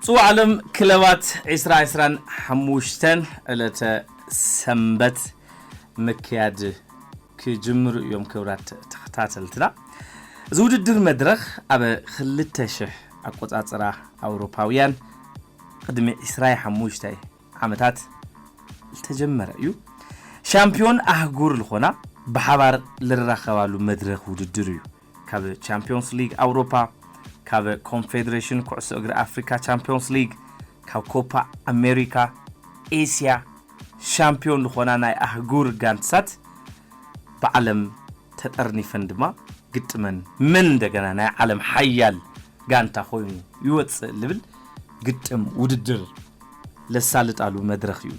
ጽዋዕ ዓለም ክለባት 2025 ዕለተ ሰንበት ምክያድ ክጅምሩ እዮም ክብራት ተኸታተልትና እዚ ውድድር መድረኽ ኣብ 2000 ኣቆጻጽራ ኣውሮፓውያን ቕድሚ ዕስራይ ሓሙሽታይ ዓመታት ዝተጀመረ እዩ። ሻምፕዮን ኣህጉር ልኾና ብሓባር ልራኸባሉ መድረኽ ውድድር እዩ። ካብ ቻምፕዮንስ ሊግ ኣውሮፓ፣ ካብ ኮንፌዴሬሽን ኩዕሶ እግሪ ኣፍሪካ ቻምፕዮንስ ሊግ፣ ካብ ኮፓ ኣሜሪካ፣ ኤስያ፣ ሻምፕዮን ልኾና ናይ ኣህጉር ጋንትሳት ብዓለም ተጠርኒፈን ድማ ግጥመን መን እንደገና ናይ ዓለም ሓያል ጋንታ ኮይኑ ይወጽእ ልብል ግጥም ውድድር ለሳልጣሉ መድረኽ እዩ።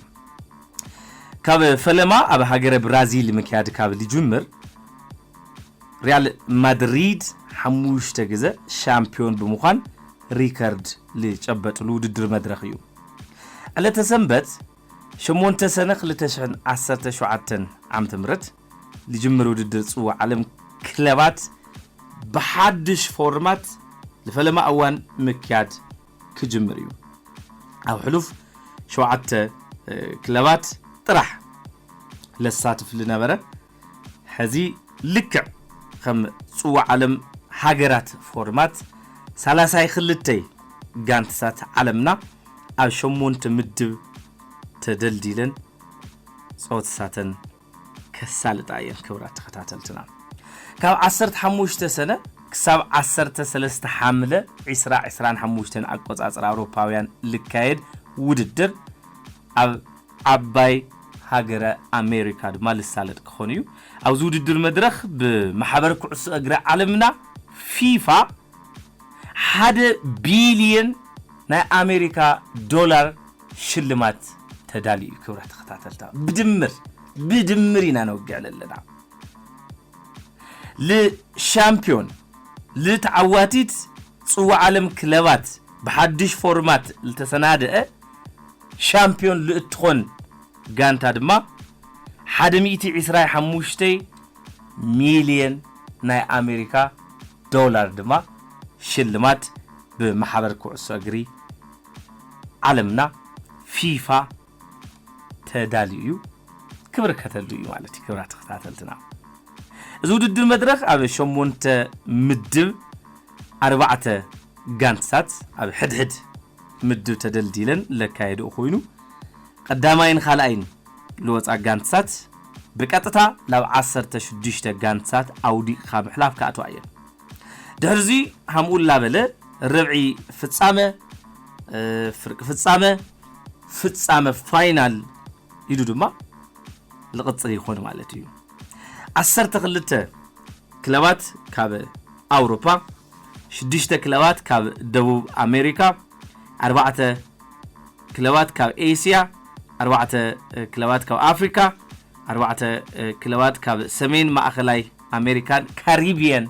ካብ ፈለማ ኣብ ሃገረ ብራዚል ምክያድ ካብ ልጅምር ሪያል ማድሪድ ሓሙሽተ ግዘ ሻምፒዮን ብምዃን ሪከርድ ልጨበጥሉ ውድድር መድረኽ እዩ። ዕለተ ሰንበት ሸሞንተ ሰነ ክልተ ሽሕን ዓሰርተ ሸውዓተን ዓመተ ምህረት ልጅምር ውድድር ፅዋዕ ዓለም ክለባት ብሓዱሽ ፎርማት ልፈለማ እዋን ምክያድ ክጅምር እዩ። ኣብ ሕሉፍ ሸውዓተ ክለባት ጥራሕ ለሳትፍ ልነበረ ሐዚ ልክዕ ኸም ፅዋዕ ዓለም ሃገራት ፎርማት ሳላሳይ ኽልተይ ጋንትታት ዓለምና ኣብ ሸሞንተ ምድብ ተደልዲለን ፀወትታተን ከሳልጣ እየን ክብራት ተኸታተልትና ካብ ዓሰርተ ሓሙሽተ ሰነ ክሳብ ዓሰርተ ሰለስተ ሓምለ ዕስራ ዕስራን ሓሙሽተን ኣቆፃፅራ ኣውሮፓውያን ልካየድ ውድድር ኣብ ዓባይ ሃገረ ኣሜሪካ ድማ ልሳለጥ ክኾን እዩ። ኣብዚ ውድድር መድረኽ ብማሕበር ኩዕሶ እግሪ ዓለምና ፊፋ ሓደ ቢልየን ናይ ኣሜሪካ ዶላር ሽልማት ተዳልዩ እዩ። ክብራ ተኸታተልታ ብድምር ብድምር ኢና ነውግዕ ለለና ልሻምፒዮን ልተዓዋቲት ጽዋዕ ዓለም ክለባት ብሓዱሽ ፎርማት ልተሰናደአ ሻምፕዮን ልእትኾን ጋንታ ድማ ሓደ ሚእቲ ዕስራይ ሓሙሽተይ ሚልየን ናይ ኣሜሪካ ዶላር ድማ ሽልማት ብማሕበር ኩዕሶ እግሪ ዓለምና ፊፋ ተዳልዩ እዩ ክብርከተሉ እዩ ማለት እዩ ክብራ ተኸታተልትና እዚ ውድድር መድረኽ ኣብ ሸሞንተ ምድብ ኣርባዕተ ጋንትታት ኣብ ሕድሕድ ምድብ ተደልዲለን ለካየድኡ ኮይኑ ቐዳማይን ኻልኣይን ልወፃ ጋንትታት ብቀጥታ ላብ ዓሰርተ ሽዱሽተ ጋንትታት ኣውዲቕኻ ምሕላፍ ክኣትዋ እየን ድሕሪ እዙይ ሃምኡ ላበለ ርብዒ ፍፃመ ፍርቂ ፍፃመ ፍፃመ ፋይናል ኢሉ ድማ ልቕፅል ይኾን ማለት እዩ ዓሰርተ ክልተ ክለባት ካብ ኣውሮፓ ሽዱሽተ ክለባት ካብ ደቡብ ኣሜሪካ፣ ኣርባዕተ ክለባት ካብ ኤስያ፣ ኣርባዕተ ክለባት ካብ ኣፍሪካ፣ ኣርባዕተ ክለባት ካብ ሰሜን ማእኸላይ ኣሜሪካን ካሪብየን፣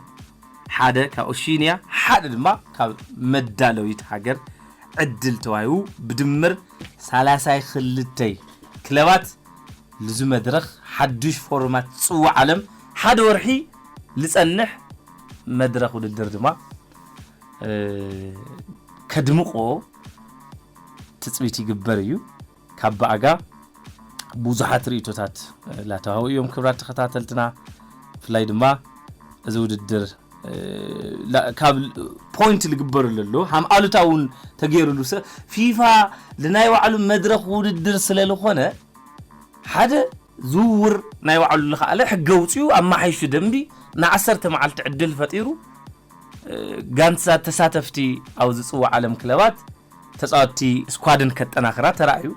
ሓደ ካብ ኦሺንያ፣ ሓደ ድማ ካብ መዳለዊት ሃገር ዕድል ተዋሂቡ ብድምር ሳላሳይ ክልተይ ክለባት ልዙ መድረኽ ሓዱሽ ፎርማት ፅዋዕ ዓለም ሓደ ወርሒ ልፀንሕ መድረኽ ውድድር ድማ ከድምቆ ትፅቢት ይግበር እዩ ካብ ብኣጋ ብዙሓት ርእቶታት ላተዋህቡ እዮም ክብራት ተኸታተልትና ብፍላይ ድማ እዚ ውድድር ካብ ፖይንት ዝግበሩ ለሎ ሃም ኣሉታ እውን ተገይሩሉ ፊፋ ልናይ ባዕሉ መድረኽ ውድድር ስለ ዝኾነ ሓደ ዝውውር ናይ ባዕሉ ልኸኣለ ሕጊ ኣውጺኡ ኣመሓይሹ ደምቢ ንዓሰርተ መዓልቲ ዕድል ፈጢሩ ጋንትታት ተሳተፍቲ ኣብ ዝጽዋዕ ዓለም ክለባት ተጻወትቲ ስኳድን ከጠናኽራ ተራእዩ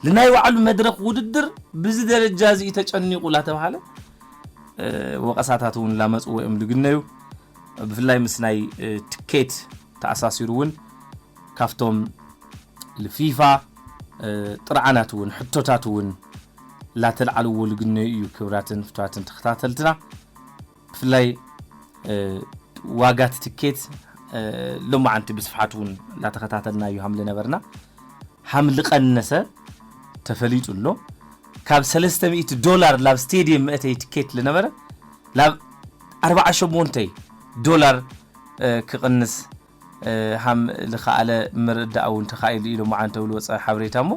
ልናይ ባዕሉ መድረኽ ውድድር ብዚ ደረጃ እዚ እዩ ተጨኒቑ ላተብሃለ ወቐሳታት እውን ላመጽዎ እዮም ልግነዩ ብፍላይ ምስ ናይ ትኬት ተኣሳሲሩ እውን ካብቶም ልፊፋ ጥርዓናት እውን ሕቶታት እውን ላተልዓልዎ ልግነዩ እዩ ክብራትን ፍትዋትን ተኸታተልትና ብፍላይ ዋጋት ትኬት ሎማዓንቲ ብስፍሓት እውን ላተኸታተልና እዩ ሃምሊ ነበርና ሃምሊ ቀነሰ ተፈሊጡ ኣሎ ካብ ሰለስተ ሚእቲ ዶላር ላብ ስቴድየም መእተይ ትኬት ልነበረ ላብ ኣርባዓ ሸሞንተይ ዶላር ክቕንስ ሃም ልኸኣለ ምርዳእ እውን ተኻኢሉ ኢሎም ዓንተው ልወፀ ሓበሬታ እሞ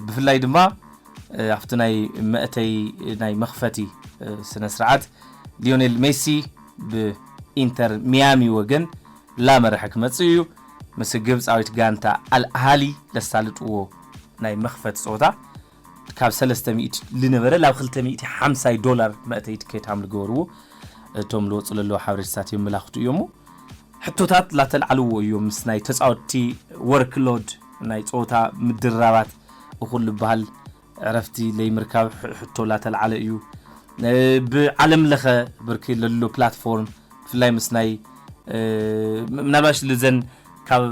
ብፍላይ ድማ ኣብቲ ናይ መእተይ ናይ መኽፈቲ ስነ ስርዓት ሊዮኔል ሜሲ ብኢንተር ሚያሚ ወገን ላመረሐ ክመፅእ እዩ ምስ ግብፃዊት ጋንታ ኣልኣሃሊ ለሳልጥዎ ናይ መኽፈቲ ፀወታ ካብ ሰለስተ ሚእቲ ልነበረ ላብ ክልተ ሚእቲ ሓምሳይ ዶላር መእተይ ትኬት ሃም ልገበርዎ እቶም ልወጹ ለለዉ ሓበሬታታት የመላኽቱ እዮሞ ሕቶታት ላተልዓልዎ እዮም ምስ ናይ ተጻወትቲ ወርክ ሎድ ናይ ጸወታ ምድርራባት እኹል ልበሃል ዕረፍቲ ለይምርካብ ሕቶ ላተልዓለ እዩ ብ ዓለም ለኸ ብርኪ ለሎ ፕላትፎርም ብፍላይ ምስ ናይ ምናልባሽ ልዘን ካብ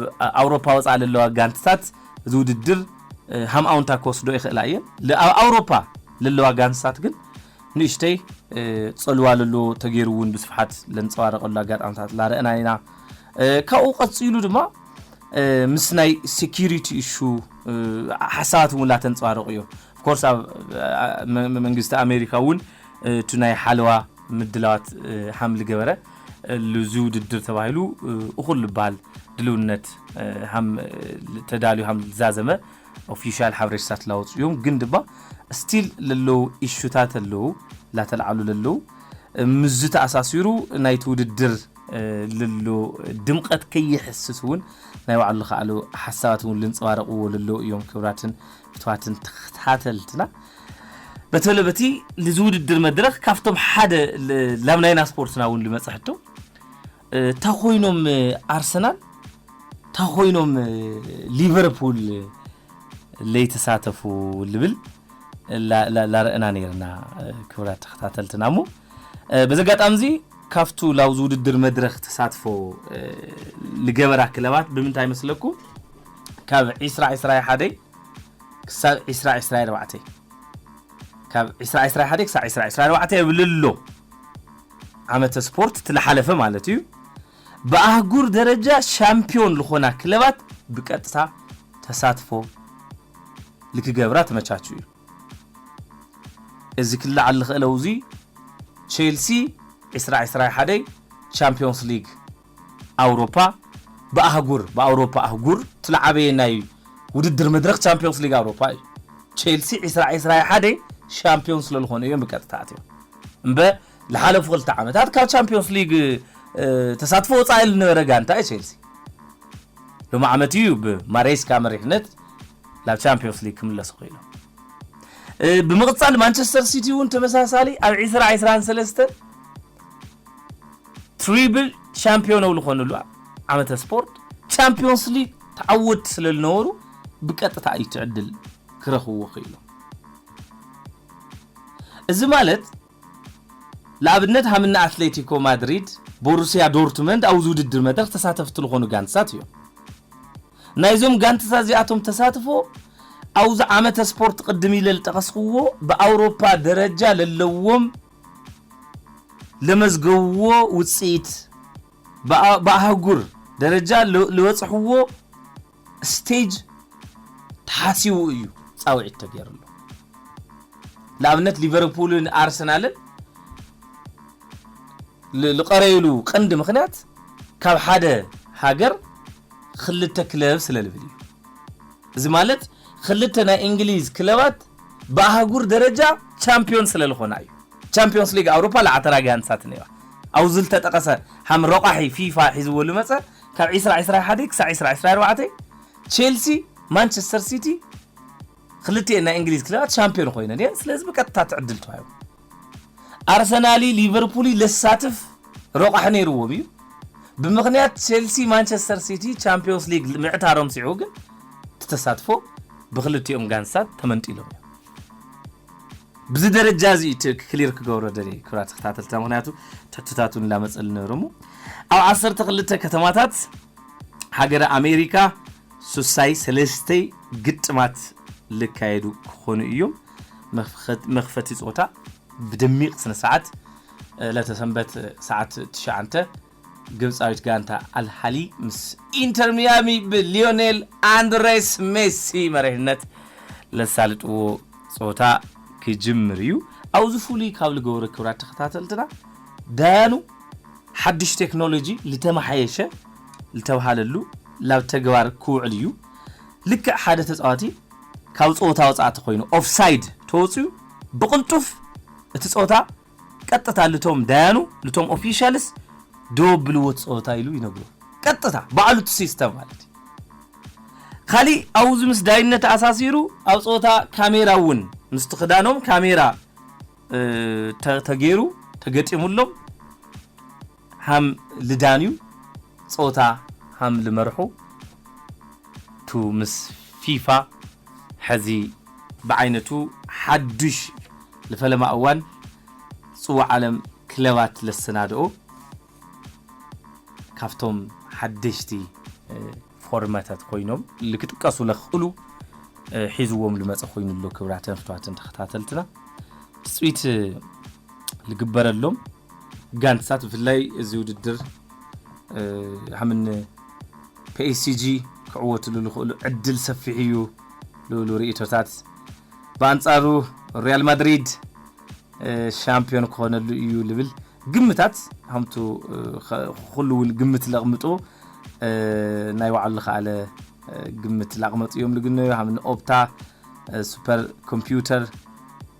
ኣውሮፓ ወጻኢ ለለዋ ጋንትታት እዚ ውድድር ሃም ኣውንታ ክወስዶ ይኽእላ እየን። ኣብ ኣውሮፓ ለለዋ ጋንትታት ግን ንእሽተይ ጸልዋ ለሎ ተገይሩ እውን ብስፍሓት ለንጸባረቐሉ ኣጋጣምታት ላረእና ኢና። ካብኡ ቀጺሉ ድማ ምስ ናይ ሴኪሪቲ እሹ ሓሳባት እውን ላተንፀባረቑ እዮ ኮርስ ኣብ መንግስቲ ኣሜሪካ እውን እቲ ናይ ሓለዋ ምድላዋት ሓምሊ ገበረ ልዙ ውድድር ተባሂሉ እኹል ልባል ድልውነት ሃም ተዳልዩ ሃም ልዛዘመ ኦፊሻል ሓበሬታታት ላወፁ እዮም ግን ድማ ስቲል ለለው ኢሹታት ኣለው ላተልዓሉ ለለው ምዝ ተኣሳሲሩ ናይቲ ውድድር ለሎ ድምቀት ከይሕስስ እውን ናይ ባዕሉ ልኸኣሉ ሓሳባት እውን ልንፀባረቕዎ ለለው እዮም ክብራትን ክብርታትን ተኸታተልትና በተለ በቲ ልዚ ውድድር መድረኽ ካብቶም ሓደ ላብ ናይና ስፖርትና እውን ልመፀ ሕቶ እታ ኮይኖም ኣርሰናል እታ ኮይኖም ሊቨርፑል ለይተሳተፉ ልብል ላርእና ነርና ክብራት ተኸታተልትና እሞ በዚ ኣጋጣሚ እዚ ካብቱ ላብዚ ውድድር መድረኽ ተሳትፎ ልገበራ ክለባት ብምንታይ መስለኩም ካብ ዒስራ ዒስራይ ሓደይ ክሳብ ዒስራ ዒስራይ ኣርባዕተይ ካብ ዒስራ ዒስራይ ሓደይ ክሳብ ዒስራ ዒስራይ ኣርባዕተይ እብልሎ ዓመተ ስፖርት እቲ ዝሓለፈ ማለት እዩ ብኣህጉር ደረጃ ሻምፒዮን ዝኾና ክለባት ብቀጥታ ተሳትፎ ልክገብራ ተመቻቹ እዩ እዚ ክለዓል ዝኽእለው እዙይ ቼልሲ ዒስራ ዒስራይ ሓደይ ቻምፒዮንስ ሊግ ኣውሮፓ ብኣህጉር ብኣውሮፓ ኣህጉር እቲ ልዓበየ ናይ ውድድር መድረኽ ቻምፕዮንስ ሊግ ኣውሮፓ እዩ። ቼልሲ ዕስራ ዕስራ ሓደ ሻምፕዮን ስለልኾኑ እዮም ብቀጥታ ኣትዮም እምበ ልሓለፉ ክልተ ዓመታት ካብ ቻምፕዮንስ ሊግ ተሳትፎ ወፃኢ ልነበረ ጋንታ እዩ ቼልሲ። ሎሚ ዓመት እዩ ብማሬስካ መሪሕነት ናብ ቻምፕዮንስ ሊግ ክምለሱ ክኢሎም። ብምቕፃል ማንቸስተር ሲቲ እውን ተመሳሳሊ ኣብ ዕስራ ዕስራን ሰለስተ ትሪብል ሻምፒዮን ብ ልኾኑሉ ዓመተ ስፖርት ቻምፒዮንስ ሊግ ተዓወትቲ ስለ ልነበሩ ብቀጥታ እዩ እቲ ዕድል ክረኽብዎ ክኢሎም። እዚ ማለት ልኣብነት ሃም እኒ ኣትሌቲኮ ማድሪድ፣ ቦሩስያ ዶርትመንድ ኣብዚ ውድድር መድረኽ ተሳተፍቲ ልኾኑ ጋንትታት እዮም። ናይዞም ጋንትታት እዚኣቶም ተሳትፎ ኣብዚ ዓመተ ስፖርት ቅድም ኢለ ልጠቐስኽዎ ብኣውሮፓ ደረጃ ለለዎም ለመዝገቡዎ ውፅኢት ብኣህጉር ደረጃ ልበፅሕዎ ስቴጅ ተሓሲቡ እዩ ፃውዒት ተገይርሉ። ልኣብነት ሊቨርፑልን ኣርሰናልን ልቐረዩሉ ቀንዲ ምኽንያት ካብ ሓደ ሃገር ኽልተ ክለብ ስለልብል እዩ። እዚ ማለት ኽልተ ናይ እንግሊዝ ክለባት ብኣህጉር ደረጃ ቻምፕዮን ስለልኾና እዩ። ቻምፕዮንስ ሊግ ኣውሮፓ ለዓተራ ጋንታት ነይራ። ኣብኡ ዝልተጠቐሰ ሃም ረቋሒ ፊፋ ሒዝዎ ልመጸ ካብ ዒስራ ዒስራ ሓደ ክሳዕ ዒስራ ዒስራ ኣርባዕተ ቼልሲ ማንቸስተር ሲቲ ኽልቲኤን ናይ እንግሊዝ ክለባት ቻምፕዮን ኾይነን እየን። ስለዚ ብቀጥታ እቲ ዕድል ተዋሂቡ። ኣርሰናሊ ሊቨርፑሊ ለሳትፍ ረቋሒ ነይርዎም እዩ። ብምኽንያት ቼልሲ ማንቸስተር ሲቲ ቻምፕዮንስ ሊግ ምዕታሮም ስዒቡ ግን እቲ ተሳትፎ ብክልቲኦም ጋንትታት ተመንጢሎም እዮም። ብዚ ደረጃ እዚ እቲ ክሊር ክገብሮ ደልየ ክብራት ተኸታተልትና ምክንያቱ ትሕቶታት እውን ላመፀሉ ነይሩ እሞ ኣብ ዓሰርተ ክልተ ከተማታት ሃገረ ኣሜሪካ ሱሳይ ሰለስተይ ግጥማት ልካየዱ ክኾኑ እዮም። መኽፈቲ ጸወታ ብደሚቕ ስነስርዓት ዕለተ ሰንበት ሰዓት ትሽዓንተ ግብጻዊት ጋንታ ኣልሃሊ ምስ ኢንተር ሚያሚ ብሊዮኔል ኣንድሬስ ሜሲ መሪሕነት ለሳልጥዎ ጸወታ ክጅምር እዩ። ኣብዚ ፍሉይ ካብ ልገብሮ ክብራት ተኸታተልትና ዳያኑ ሓድሽ ቴክኖሎጂ ልተመሓየሸ ልተብሃለሉ ላብ ተግባር ክውዕል እዩ። ልክዕ ሓደ ተጻዋቲ ካብ ፀወታ ወፃእቲ ኮይኑ ኦፍሳይድ ተወፅዩ ብቅልጡፍ እቲ ፀወታ ቀጥታ ልቶም ዳያኑ ልቶም ኦፊሻልስ ደወ ብልዎት ፀወታ ኢሉ ይነግሩ ቀጥታ ባዕሉ እቲ ሲስተም ማለት እዩ ካሊእ ኣብኡ እዚ ምስ ዳይነት ኣሳሲሩ ኣብ ፀወታ ካሜራ እውን ምስቲ ክዳኖም ካሜራ ተገይሩ ተገጢሙሎም ሃም ልዳንዩ ጸወታ ሃም ልመርሑ ቱ ምስ ፊፋ ሐዚ ብዓይነቱ ሓዱሽ ልፈለማ እዋን ጽዋዕ ዓለም ክለባት ለሰናድኦ ካብቶም ሓደሽቲ ፎርማታት ኮይኖም ልክጥቀሱ ለኽእሉ ሒዝዎም ልመጸ ኮይኑ ኣሎ ክብራተን ፍትዋትን ተኸታተልትና ትጽቢት ልግበረሎም ጋንትታት ብፍላይ እዚ ውድድር ሃምን ፒኤስጂ ክዕወትሉ ልኽእሉ ዕድል ሰፊሕ እዩ ልብሉ ርእቶታት ብኣንጻሩ ሪያል ማድሪድ ሻምፕዮን ክኾነሉ እዩ ልብል ግምታት ከምቱ ኩሉ እውን ግምት ለቕምጡ ናይ ባዕሉ ዝኸኣለ ግምት ላቕመጡ እዮም ልግነዩ ሃም ንኦፕታ ሱፐር ኮምፒውተር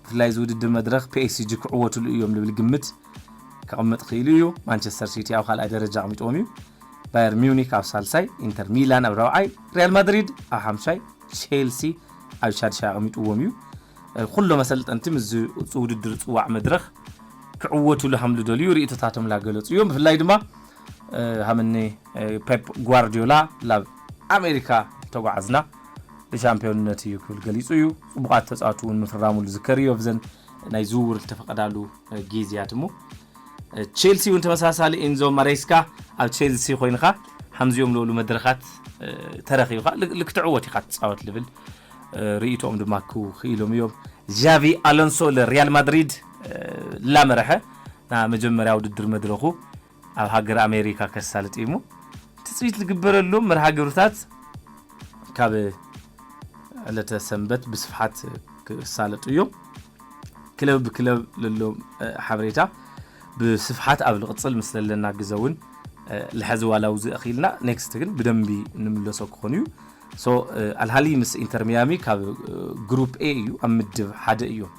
ብፍላይ እዚ ውድድር መድረኽ ፒኤስጂ ክዕወትሉ እዮም ልብል ግምት ከቕምጥ ክኢሉ እዩ ማንቸስተር ሲቲ ኣብ ካልኣይ ደረጃ ኣቕሚጥዎም እዩ ባየር ሚዩኒክ ኣብ ሳልሳይ ኢንተር ሚላን ኣብ ራብዓይ ሪያል ማድሪድ ኣብ ሓምሻይ ቼልሲ ኣብ ሻድሻይ ኣቕሚጥዎም እዩ ኩሎም ኣሰልጠንቲ ምስዚ ውድድር ፅዋዕ መድረኽ ክዕወቱሉ ሃም ልደልዩ ርእቶታቶም ላገለፁ እዮም። ብፍላይ ድማ ሃምኒ ፔፕ ጓርዲዮላ ላብ ኣሜሪካ ተጓዓዝና ብሻምፒዮንነት እዩ ክብል ገሊፁ እዩ። ፅቡቓት ተፃወቲ እውን ምፍራሙ ዝዝከር እዩ ኣብዘን ናይ ዝውውር ዝተፈቐዳሉ ጊዜያት እሞ ቼልሲ እውን ተመሳሳሊ ኢንዞ ማሬስካ ኣብ ቼልሲ ኮይንኻ ሓምዚኦም ዝበሉ መድረኻት ተረኺብካ ልክትዕወት ኢኻ ትፃወት ልብል ርእይቶኦም ድማ ክኢሎም እዮም። ዣቪ ኣሎንሶ ንሪያል ማድሪድ ላመረሐ ናብ መጀመርያ ውድድር መድረኹ ኣብ ሃገር ኣሜሪካ ከሳልጥ እዩሞ ትፅቢት ልግበረሎም መርሃ ግብርታት ካብ ዕለተ ሰንበት ብስፍሓት ክሳለጡ እዮም። ክለብ ብክለብ ለሎ ሓበሬታ ብስፍሓት ኣብ ልቕፅል ምስ ለለና ግዘ እውን ልሐዚ ዋላ ውዚ እኽኢልና ኔክስት ግን ብደንቢ ንምለሶ ክኾን እዩ። ሶ ኣልሃሊ ምስ ኢንተር ሚያሚ ካብ ግሩፕ ኤ እዩ ኣብ ምድብ ሓደ እዮም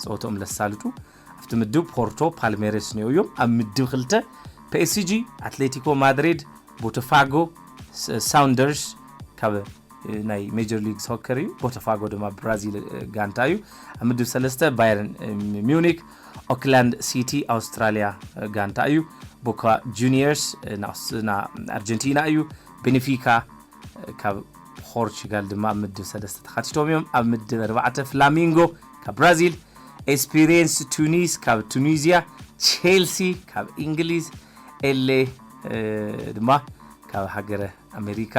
ጸወትኦም ለሳልጡ ኣብቲ ምድብ ፖርቶ ፓልሜሬስ ኒኦ እዮም ኣብ ምድብ ክልተ ፒኤስጂ ኣትሌቲኮ ማድሪድ ቦተፋጎ ሳውንደርስ ካብ ናይ ሜጀር ሊግ ሶከር እዩ ቦተፋጎ ድማ ብራዚል ጋንታ እዩ ኣብ ምድብ ሰለስተ ባየርን ሚዩኒክ ኦክላንድ ሲቲ ኣውስትራልያ ጋንታ እዩ ቦካ ጁኒየርስ ንኣርጀንቲና እዩ ቤኔፊካ ካብ ፖርቹጋል ድማ ኣብ ምድብ ሰለስተ ተኻቲቶም እዮም። ኣብ ምድብ ኣርባዕተ ፍላሚንጎ ካብ ብራዚል፣ ኤስፒሪየንስ ቱኒስ ካብ ቱኒዝያ፣ ቼልሲ ካብ እንግሊዝ፣ ኤሌ ድማ ካብ ሃገረ ኣሜሪካ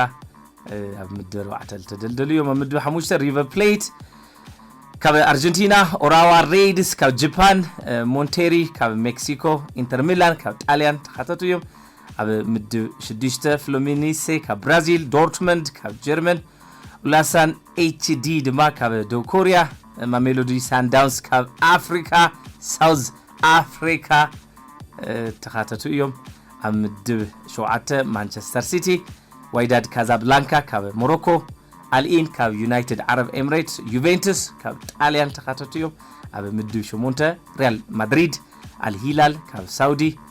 ኣብ ምድብ ኣርባዕተ ዝተደልደሉ እዮም። ኣብ ምድብ ሓሙሽተ ሪቨር ፕሌት ካብ ኣርጀንቲና፣ ኦራዋ ሬድስ ካብ ጀፓን፣ ሞንቴሪ ካብ ሜክሲኮ፣ ኢንተር ሚላን ካብ ጣልያን ተካተቱ እዮም። ኣብ ምድብ ሽዱሽተ ፍሎሚኒሴ ካብ ብራዚል፣ ዶርትመንድ ካብ ጀርመን፣ ኡላሳን ኤችዲ ድማ ካብ ደቡብ ኮርያ፣ ማሜሎዲ ሳንዳውንስ ካብ ኣፍሪካ፣ ሳውዝ ኣፍሪካ ተኻተቱ እዮም። ኣብ ምድብ ሸውዓተ ማንቸስተር ሲቲ፣ ዋይዳድ ካዛብላንካ ካብ ሞሮኮ፣ ኣልኢን ካብ ዩናይትድ ዓረብ ኤምሬትስ፣ ዩቬንቱስ ካብ ጣልያን ተኻተቱ እዮም። ኣብ ምድብ ሸሞንተ ሪያል ማድሪድ፣ ኣልሂላል ካብ ሳውዲ፣